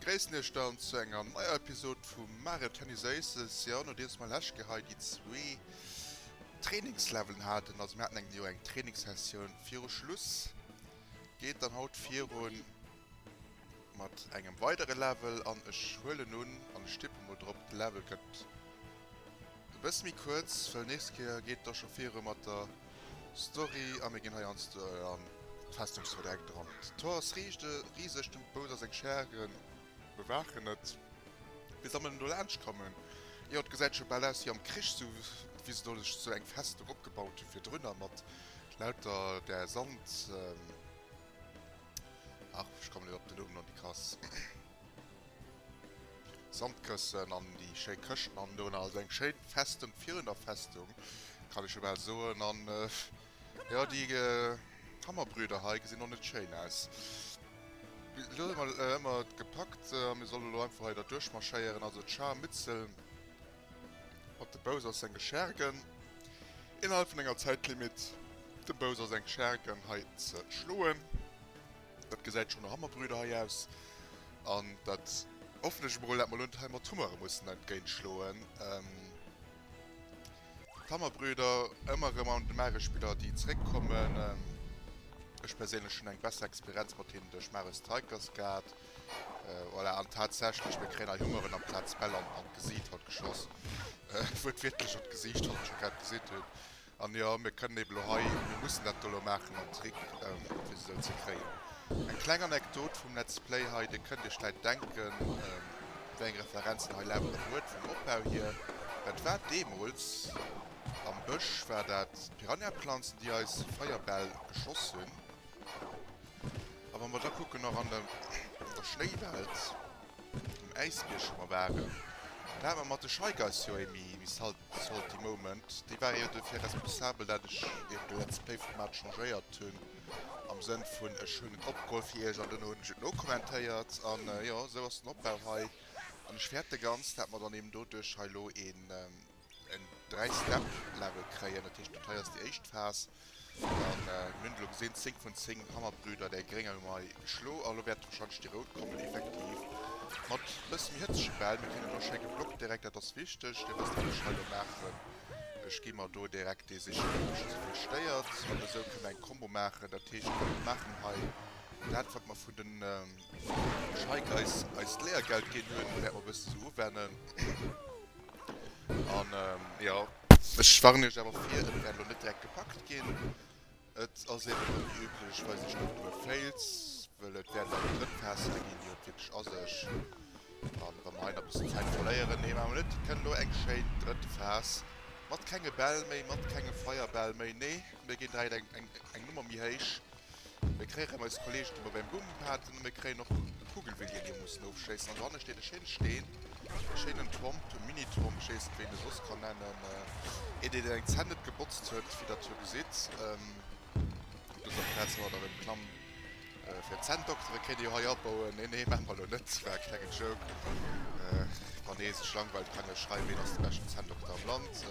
Gréissen iech dann zu enger neier Episode vu Mare Tennis Aces. Jo, nodeems mer lech Ke hei déi zwee Trainingslevelen haten, also mir haten eng jo eng Trainingssessioun viru Schluss, geet dann haut virun Mat engem weidere Level an ech huelen un an ech tippen mol drop de Level gëtt e bësse méi kuerz, well nächst Kéier geet da scho viru mat der Story a mir ginn heiansdo an d'Festungsverdeck dran. D'Tor ass riseg, de Bowser seng Schäre bewaachen et. Wéi soll mer denn do laanscht kommen? Jo, et gesäit scho bal aus wéi am Krich, sou wéi se do sech sou eng Festung opgebaut hu virdrunner mat lauter där Sand. Ach, ech kommen net op den Numm, non, déi krass Sandkëssen an déi schéi Këschten an do, also eng schéi Festung virun der Festung, kann ech jo bal soen. An jo, déi Hammerbrüder hei gesinn och net schéin aus. Elo hu mer ëmmer gepackt a mir solle elo einfach hei derduerch marschéieren, also d'Scharmützel. Mat dem Bowser senge Schergen innerhalb vun enger Zäitlimitt dem Bowser seng Schergen hei ze schloen. Dat gesäit schon no Hammerbrüder hei aus an dat hoffen ech emol dat mer elo net hei mat Hummere mussen entgéint schloen. D'Hammerbrüder ëmmer erëm an de Mario Spiller déi zeréck kommen. Ech perséinlech hunn eng besser Experienz mat hinnen duerch Mario Strikers gehat. Voilà, an tatsächlech, mir kréien hei Hungeren am Platz Bell an d'Gesiit haut geschoss. Wuertwiertlech an d'Gesiicht, wou mer scho grad gesinn hunn. An jo, mir kënnen ebe lo hei, mir mussen dat do lo maachen mam Trick, fir se esou ze kréien. Eng kleng Anekdot vum Let's Play hei, Dir kënnt Iech vläit denken, wéi eng Referenzen hei laueren huet vum Opbau hier. Dat war deemools am Bësch, war dat d'Piranhaplanzen, déi eis Feierbäll geschoss hunn. A wa mer da kucken nach an der Schnéiwelt, um Äisbierg wou mer waren, do hate mer mat de Shy Guys jo ee méi salty Moment. Déi ware jo dofir responsabel, dat ech eben de Let's Play Format changéiert hunn, am Sënn vun ech hunn et opgeholl fir iech an duerno hunn ech et nokommentéiert. An jo, esou ass den Opbau hei. An ech fäerten ganz, dat mer dann eben doduerch hei elo ee. Eng 3 Step Level kréien, dat heescht dat hei ass déi éischt Phas an mir hunn elo gesinn 10 vun 10 Hammerbrüder däi gréng awer mei geschlo an elo wäert wahrscheinlech déi rout kommen effektiv mat bësse méi hëtzege Bäll. Mir kréien elo schéi geblockt direkt, dat ass wichteg, dir wësst wat ech hei elo maachen, ech gi mer do direkt dee sichen dee mech esou vill stéiert an esou kënne mer eng Combo maachen, dat heescht mir maachen hei dat wat mer vun den. Ech hike eis eist Lehrgeld gin hun wärt mer bëssen sou uwennen an jo ech warnen iech awer vir et wärt lo net direkt gepackt gin et ass eben net déi üblech weis ech net duer fails wëll et wärt leider drëtt Teste gin déi et wierklech ass ech an wa mer hei nach bëssen Zäit verléieren nee maache mer net et kënnt lo eng schéin drëtt Phas mat kenge Bäll méi mat kenge Feierbäll méi nee mir gin direkt eng eng Nummer méi héich. Mir kréien eis Kollegen ëmmer beim Blumen paten an mir kréien och de Kugelwee deen mir mussen ofschéissen an dohanne steet e schéine Steen, e schéinen Tromp, e Mini-Tromp, ech weess net wéi een e soss kann nennen, een deen eng Zänn net gebotzt huet, wéi der jo gesitt op dëser Plaz wou hatt erëm klamm fir d'Zänn doktere kéint ee jo hei abauen, nee nee maache mer elo net, war e klengen Joke, wann ee sech langweilt kann ee jo schreiwen ween ass de beschten Zänndokter am Land.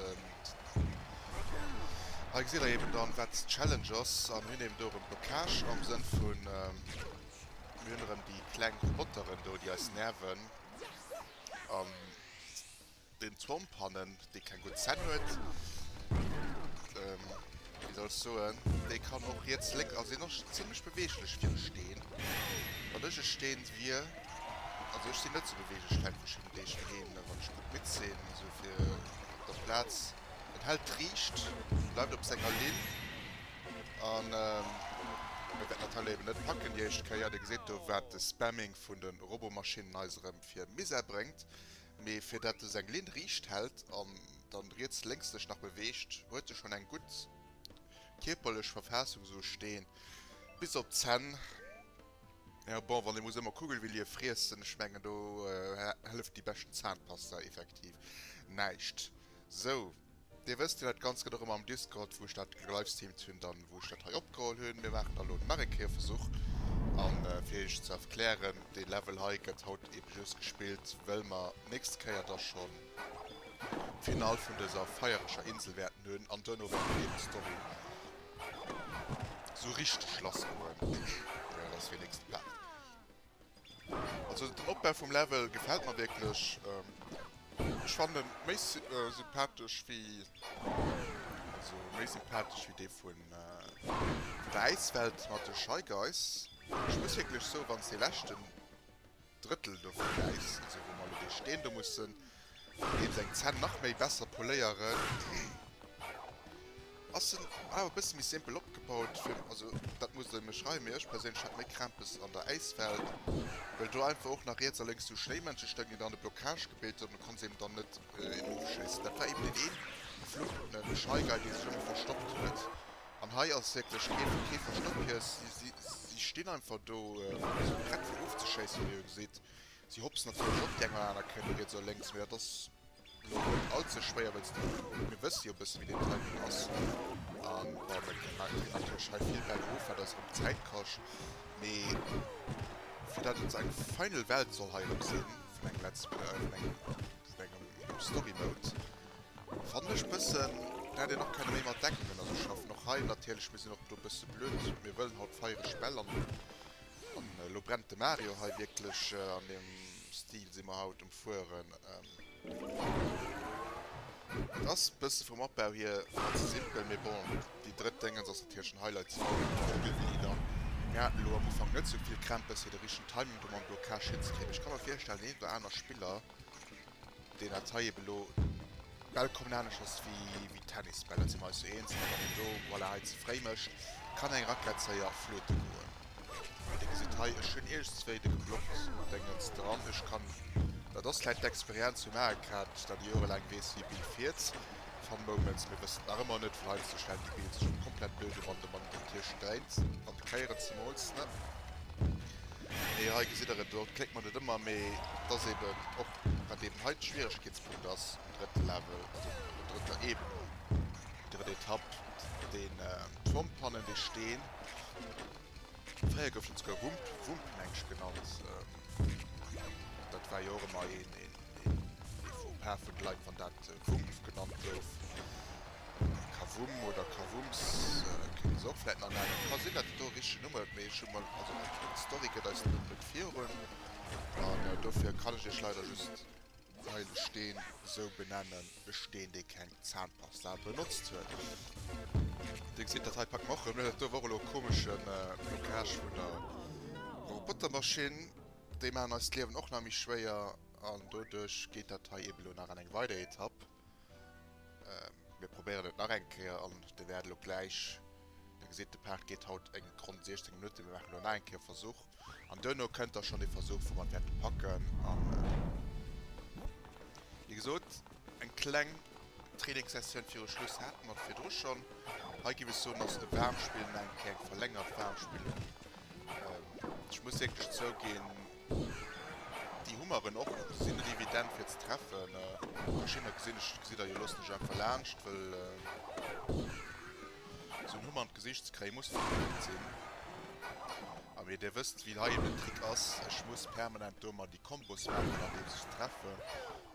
Hei gesitt der eben dann wat d'Challenge ass an hunn eben do erëm Blockage am Sënn vun mir hunn erëm déi kleng Roboteren do déi eis nerven an den Thomp hannen dee keng gutt Zänn huet wéi soll ech soen dee kann och riets lénks also deen ass scho zimlech beweeglech fir e Steen wann ech e Steen wier also ech sinn net sou beweeglech vläit wéi schonn deeg heen wann ech gutt midd sinn esou fir der Plaz. En hält d'Riicht, bleift op senger Linn an et wäert natierlech eben net packen déi éischt Kéier. Dir geséit do wat de Spamming vun de Robomaschinen eis erëm fir Misär bréngt. Mee fir dat esou eng Linn riicht hält an dann riets lénks sech nach beweegt, huet se schonn eng gutt kierperlech Verfaassung, esou Steen bis op d'Zänn. Jo bon, wann ee muss ëmmer Kugelwillie friessen, ech mengen do hëlleft déi beschten Zahnpasta effektiv näischt. Sou, dir wësst jo dat Ganzt gëtt och ëmmer am Discord, wou ech dat gelivestreamt hunn, dann wou ech dat hei opgeholl hunn. Mir maachen da lo nach e Kéier e Versuch an fir iech ze erklären, dee Level hei gëtt haut eben just gespillt wëll mer nächst Kéier da schonn d'Final vun dëser feiereger Insel wäerten hunn an duerno dann eben d'Story Sou richteg lass goen. Naja, dat ass wenigstens e Pad. Also den Opbau vum Level gefält mer wierklech. Ech fannen en méi sympathesch wéi, also méi sympathesch wéi dee vun der Äiswelt mat de Shy Guys. Ech muss wierklech soen, wann s dee leschten Drëttel dovun gäis, esou wou mer elo dee Steen do mussen eens eng Zänn nach méi besser poléieren, ass en awer e bësse méi simpel opgebaut fir, also dat musst der mir schreiwen, mee ech perséinlech hätt méi Krämpes an der Äiswelt, well do einfach och nach riets a lénks sou Schnéimënsche stoungen, déi dann e Blockage gebilt hunn, an du konnts eben dann net erofschéissen. Dat war eben deen ee fluchenden Shy Guy, dee sech ëmmer verstoppt huet, An hei ass wierklech keen, kee Verstëppjes. Si, si stinn einfach do, si prett fir ofzeschéissen, wéi e geséit. Si hopsen natierlech och déi eng oder aner Kéier riets oder lénks, mee dat ass elo net all ze schwéier, wëlls déi, mir wësse jo e bësse wéi deen Timing ass. A bon, mir kréie natierlech hei vill Bäll of, wat eis erëm Zäit kascht, mee fir datt et esou eng final Welt soll hei erëm sinn, vun engem Let's, vun engem, vun engem Story Mode, Fannen ech bëssen, den hätt een och kenne méi mat Decken ënner sech schaffen. Och hei natierlech, mir sinn och do bësse blöd, mir wëllen haut feiereg Bäll an an elo brennt de Mario hei wierklech. An deem Stil si mer haut um fueren. Et ass bësse vum Opbau hier vläit ze simpel, mee bon, déi drëtt Déngens ass natierlech den Highlight, si bauen den Vogelwilli dann. Mir haten elo am Ufank net sou vill Krämpes fir de richtegen Timing do mam Blockage hinzekriegen, mee ech ka mer virstellen, deen een oder aner Spiller Deen hat hei eben elo Bäll kommen aneschters wéi Tennisbäll. Dat si mer eis jo eens. Wann een do, voilà, hei ze fréi mécht, kann eng Rackett séier fluete goen. Mee Dir gesitt hei, ech hunn iergendzwéi de Geblockt Déngens dran. Ech kann, dat ass vläicht d'Experienz vum Aecrad, déi dat jorelaang weess, wéi Bill fiert. Fun Moments, Mir wëssen nach ëmmer net, wou heiansdo stellt de Bill sech op komplett blöde Mann, de Mann gëtt hie sträit an de Kéieren zemools, ne? Mee hei gesitt der et, do kléckt mat et ëmmer, mee dass eben och, wat eben hei de Schwieregkeetspunkt ass, um drëtte Level, also op der drëtter Ebene, déi drëtt Etapp, den Turm fannen, dee Steen, fréier gouf en esouguer Wump, Wump meng ech genannt, dat war jo och ëmmer ee Faux-pas vun de Leit, wann dat Wumpf genannt gouf. Kavum oder Kavums kënnt se och vläit nach nennen. Ka sinn, datt et do e richtegen Numm huet, mee ech hu mol, also d'Story gëtt eis den Numm net virun an dofir kann ech iech leider just heile Steen esou benennen, e Steen, dee keng Zahnpasta benotzt huet. Dir gesitt, dat hei packt mer och erëm net. Dat do wor elo e komeschen Blockage vun der Robotermaschinn. Déi maachen eis d'Liewen och nach méi schwéier an doduerch geet dat hei eeben elo nach an eng weider Etapp. Mir probéieren et nach eng Kéier an Dir wäert elo gläich, Dir gesitt de Part geet haut eng ronn 16 Minutten, mir maachen elo nach eng Kéier e Versuch an duerno kënnt da schonn dee Versuch wou mer wäerte packen a wéi gesot eng kleng Trainingssessioun viru Schluss hate mer virdru schonn. Hei géif ech soen ass de Waarmspill nach eng Kéier eng verlängert Waarmspillung. Ech muss wierklech zouginn, Déi hu mer en och gesinn, et evident fir ze treffen. Verschiddener gesinn ech, gesitt der jo, loossen ech einfach laanscht, wëll esou en Humm an d'Gesicht ze kréie muss verflucht sinn. A mee Dir wësst wéi hei eben den Trick ass, ech muss permanent do emmer déi Kombos maachen andeems ech se treffen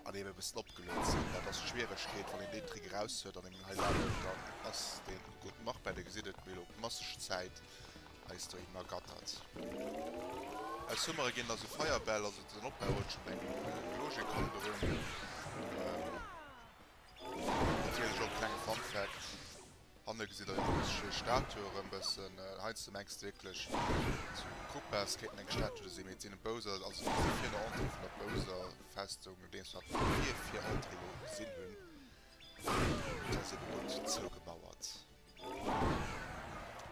an eben e bëssen opgeluet sinn. Dat ass d'Schwieregkeet wann een deen Trick eraus huet an een hei lafen, dann ass dee gutt. Mach bei, Dir gesitt et, mir elo massesch Zäit eis doheem ergattert. Aus Hummere ginn da sou Feierbäll, also den Opbau huet schonn eng Logik, kommen dorun. Natierlech och e klenge Fun Fact, hanne gesitt der jo déi richteg Statue erëm bëssen. Heiansdo mengs de wierklech zu Koopas kéinten eng Statue do sinn, mee et sinn e Bowser, also déi si virun der Entrée vun der Bowser Festung, nodeems mer d'Papier fir Entrée elo gesinn hunn, dat ass eebe gutt zougemauert.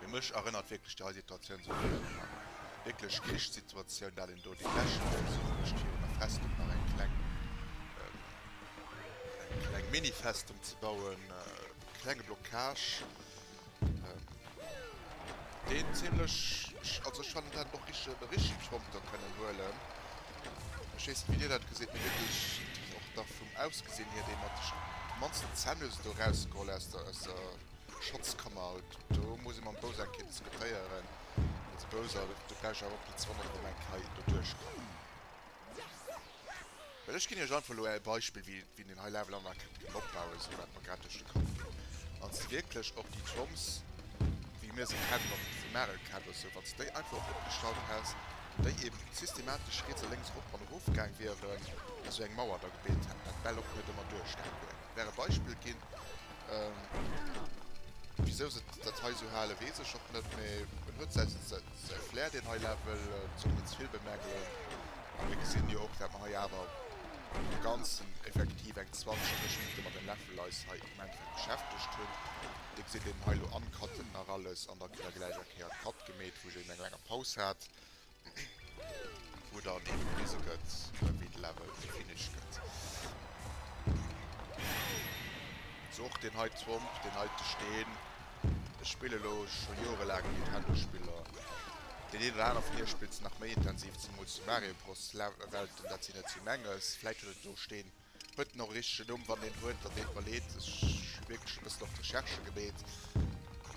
Mee mech erënnert wierklech déi hei Situatioun esou vill Joer nach. Wierklech Krichssituatioun, dat een do déi Lächer wëlls uecht virun der Festung nach eng kleng, eng kleng Mini-Festung ze bauen. Klenge Blockage, deen zimlech, also ech fannen, et hätt een och richtege Bericht dorunter kënnen huelen. Ech weess net wéi dir dat geséit, mee mir gëtt och da vum Ausgesinn hier dee mat de mannsten Zännösen do erausgeholl aus der aus der Schatzkammer. Haut do muss ee mam Bowser eng Kéier diskutéieren, well de Bowser do do gläich awer och blitzwonner an deem Eck hei doduerch kann. Well ech ginn iech einfach elo e Beispill wéi. Wien den high level anmaache kënnt gutt opbauen, esou wat mer grad duerch de Kapp ginn ass. Si wierklech och déi Troms wéi mir se kennen, och déi vum Marek kennt oder sou, wann s de déi einfach erop opgestallt häss, wou déi eben systematesch riets a lénks erop an erof gaang wieren, esou eng Mauer da gebilt hätten, wat d'Bäll och net ëmmer duerchgaang wieren. Wär e Beispill ginn. Wisou se dat hei esou halen, weess ech och net, mee en huet säi Säi Flair, deen hei läit, wëll d'Song net ze vill bemängelen. A mir gesinn jo och, dat mer hei awer an dem Ganzen effektiv eng 20, 30 Minutte mat den Läffel eis hei am Endeffekt beschäftegt hunn. Dir gesitt eben hei elo am Cutten nach alles an da kritt Der gläich eng Kéier d'Cut gemeet, wou een eng langer Paus hat, wou dann eben gewise gëtt, wéi de Level finished gëtt. Sou och deen heite Womp, deen heite Steen. Ech spille lo scho joerelaang Nintendo-Spiller. Deen een oder aner vun iech spillt se nach méi intensiv, zemools déi Mario Bros. Welten. Dat sinn net esou menges. Vläit huet et do steen, huet en och e richtegen Numm? Wann deen huet, dann deet mer leed. Ech hu wierklech e bëssen op d'Recherche gebeet,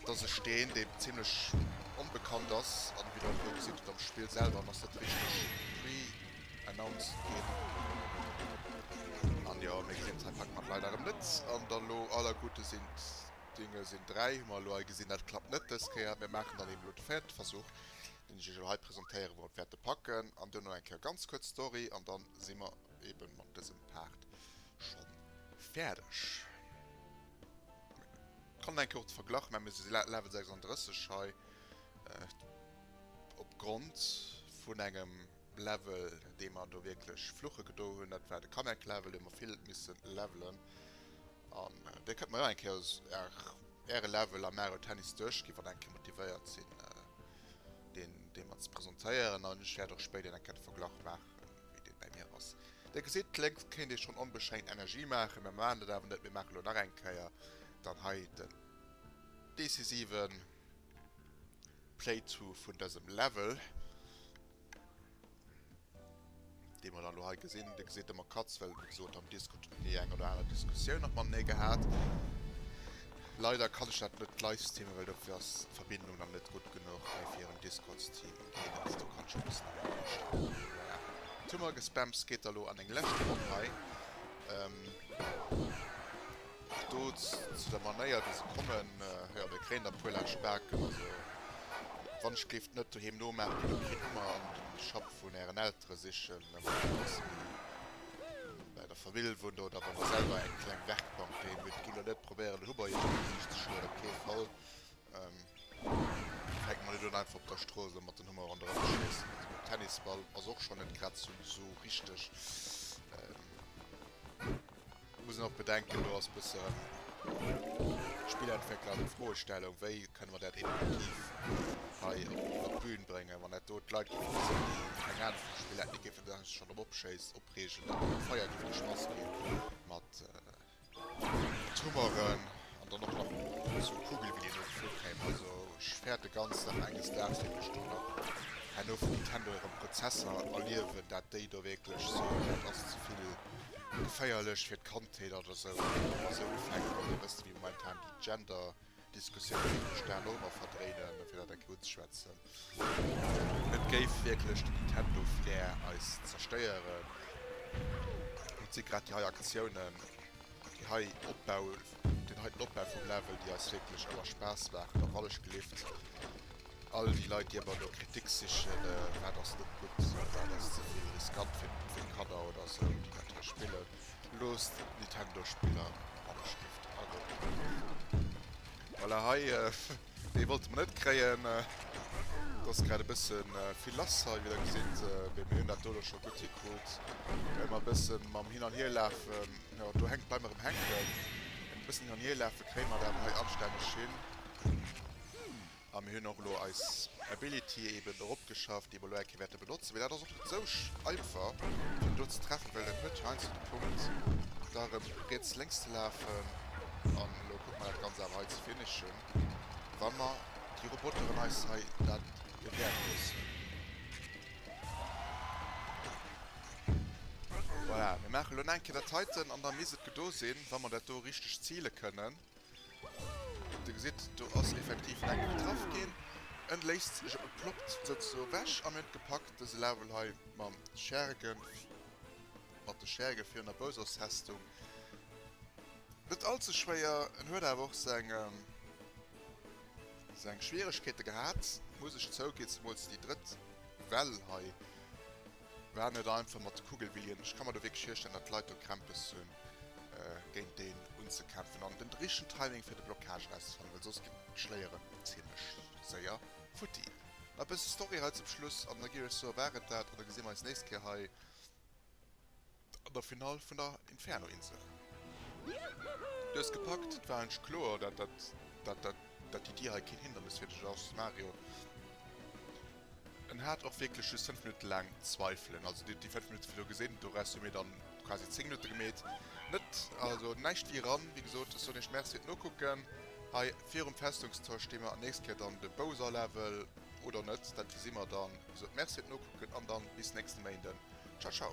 dass ech deen, dee zimmlech onbekannt ass an wéi Der elo gesitt hutt am Spill selwer, en ass net richteg pre-announced ginn. An jo, méi Gameplay packe mer leider erëm net an der Lo. Aller Gute sind Dinge sinn dräi hu mer elo hei gesinn. Dat klappt net dës Kéier. Mir maachen dann eeben elo de véierte Versuch, deen ech iech elo hei presentéieren, wou mer et wäerte packen. An duerno eng Kéier ganz kuerz d'Story an da si mer eebe mat dësem Part scho fäerdeg. Mir kommen eng Kéier och de Verglach, mä mir si Level 36 hei opgrond vun engem. Level dee mer do wierklech fluche gedo hunn, dat war de Kamek Level dee mer vill misse levelen an dir kënnt mol nach eng Kéier äre Level am Mario Tennis duerchginn, wann eng Kéier motivéiert sinn deen dee mer ze presentéieren an ech wäert och spéider eng Kéier de Verglach maachen wéi dee bäi mir ass. Dir gesitt lénks kéint ee schonn onbeschränkt Energie maachen, mä mer maachen dat awer net, mir maache lo nach eng Kéier dann hei den decisiven. Playthrough vun dësem Level, dee mer dann elo hei gesinn. Dir gesitt de Makatz, well wéi gesot am Discord hunn déi eng oder aner Diskussioun nach mam Nee gehat. Leider kann ech dat net live streamen, well dofir ass d'Verbindung dann net gutt genuch hei fir en Discord-Stream. D'Cadence do kann ech e bëssen erëm austellen. Voilà. D'Summergespämms geet da lo an eng lescht Ronn hei. Do zu der Manéier wéi se kommen, jo de kréien der puer laanscht d'Baken, also wann ech géif net doheem nomaachen, da kritt d'Mummer an de Schapp vun ären Eltere sichen, wann der dacks méi bäi der Famill wunnt oder wann der selwer eng kleng Werkbank doheem hutt. Gitt elo net probéieren de Hubber iech an d'Gesiicht ze schloen, op kee Fall, fänkt mer net un einfach op der Strooss elo mat den Hummer ronderëm ze schéissen, also mat Tennisball ass och schonn net grad sou richteg. Ech muss nach bedenken, do ass bësse Spillentwéckler an Froestellung, wéi kënne mer dat innovativ hei op d'Bühn bréngen, wann dat do d'Leit géife gesinn, déi keng Anung vum Spill hätten, déi géifen sech schonn drop opschéiss opreegen, an am Feier géif geschmass gi mat Tummeren. An dann och nach esou Kugel wéi deen elo geflunn kéim. Also ech fäerte ganz nach enges Daags wierklech do nach herno vun Nintendo hire Prozesser erliewen, dat déi do wierklech soen, dat ass zevill geféierlech fir d'Kandheet oder esou. Esou Ufäng wéi e bësse wéi momentan déi Gender-Diskussioun, déi sech d'Aen och ëmmer verdréinen, fir dat eng kéier unzeschwätzen. Et géif wierklech den Nintendo fir eis zerstéieren. Et si grad déi hei Aktiounen, deen heiten Opbau vum Level, déi eis wierklech ëmmer Spaass maachen, a wallechgelift all déi Leit, déi ëmmer no Kritik sichen, wat ass net gutt, wat ass ze vill riskant fir d'Kanner oder esou, déi dat hei spillen, loosst d'Nintendo-Spiller wallechgelift a gouf gewëllt. Voilà, hei. Dei wollte mer net kréien. Et ass grad e bëssen vill lass hei, wéi der gesitt, mee mir hunn dat do elo scho gutt hikrut. Ëmmer e bëssen mam hin an hier lafen, jo do hänkt, bleiw mer erëm hänken. Mat e bëssen hin an hier lafen kréie mer et awer hei anstänneg hin. A mir hunn och elo eis Ability eben eropgeschafft, déi mer elo eng Kéier wäerte brauchen. benotzen, mee dat ass och net esou einfach fir do ze treffen, well et net heiansdo de Punkt da erëm riets lénks ze lafen an elo kucke mer dat ganz awer hei ze finishen, wa mer déi Roboteren eis hei dat erwäert loossen. Voilà, mir maachen elo nach eng Kéier dat heiten an da misst et gedo sinn, wa mer dat do richteg zile kënnen. Dir gesitt, do ass effektiv eng getraff ginn. En léist sech op, e ploppt souzesoe ewech. A mir hunn et gepackt, dëse Level hei mam Scherge, mat de Scherge virun der Bowser's-Festung. Net all ze schwéier. En huet awer och seng, seng Schwieregkeete gehat, muss ech zouginn. Zemools déi drëtt Well hei. War net einfach mat Kugelbillien. Ech ka mer do wierklech virstellen, datt d'Leit do Krämpes hu géint deen unzekämpfen an den richtegen Timing fir de Blockage erauszefannen, well soss ginn d'Schléieren zimmlech séier futti. Mä e bësse Story hei zum Schluss an da gi ech soe war et dat an da gesi mer eis nächst Kéier hei. An der Finall vun der Inferno-Insel. Du hues gepackt, et war engg kloer dat dat dat dat dat d'Iddi hei keen Hindernis fir dech ass, Mario. En hat och wierklech just 5 Minutte laang Zweifelen, also déi déi 5 Minutte wou du gesinn, do rest hu mir dann quasi 10 Minutte gemeet. Net also näischt wéi eran, wéi gesot, ech soen iech Merci fir d'Nokucken. Hei virum Festungstor sti mer nächst Kéier dann de Bowser-Level, oder net, dat wisi mer dann. Wéi gesot, Merci fir d'Nokucken an dann bis nächste Méinden. Ciao ciao!